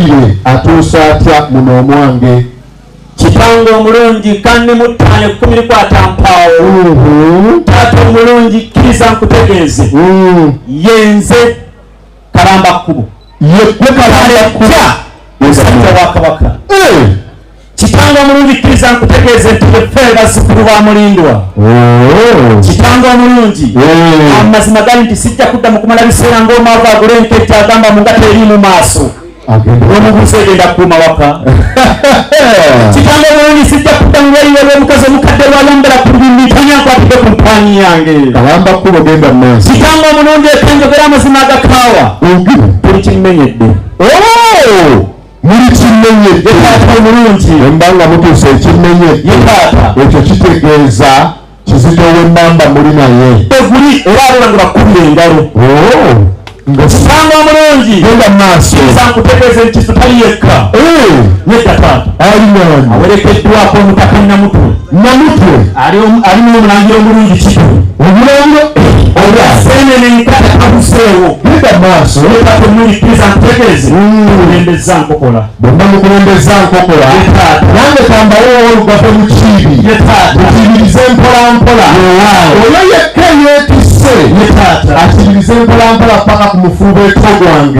Omuwulire atuusa atya muno omwange kitange omulungi kandi muttaano ekkumi likwata mpaawo mm-hmm. taata omulungi kkiriza nkutegeeze mm. yenze kalamba kkubo yekwe kalamba kkubo musajja wa kabaka eh. Kitanga omulungi kkiriza nkutegeeze nti beffe bazzukulu ba mulindwa oh. kitanga omulungi oh. amazima gali nti sijja kudda mu kumala biseera ng'omwava agula enkejja agamba mu ngata eri mu maaso omubuusa egenda kukuuma waka kitanga omulungi sijja kudda mu bweyiwe lw'omukazi omukadde lwayambala ku lulimi tanyankwatidde ku mpaani yange kawamba kkubo genda mu maaso kitanga omulungi ekenjogera amazima agakaawa buli kimmenyedde oh. muli kimenye yetaata omulungi emba nga mutuusa ekimenye yetaata ekyo kitegeeza kizito wemamba muli naye eguli era abona nga bakubira engalo oh. ngosanga omulungi genda maaso sankutegeeza ekisu tali yekka eh. yedda taata alinani awerekeddwako omutaka namutu namutu alimu omulangira omulungi kitu omulangira oyasenene nkata kabuseewo yedda maaso yetaata omulungi kiza nkutegeeza mukulembeza nkokola bonna mukulembeza nkokola nange kambawewo olugave mukiibi mukibirize mpolampola oyo yekka yetise akibirize mpolampola paka ku mufuuba eto gwange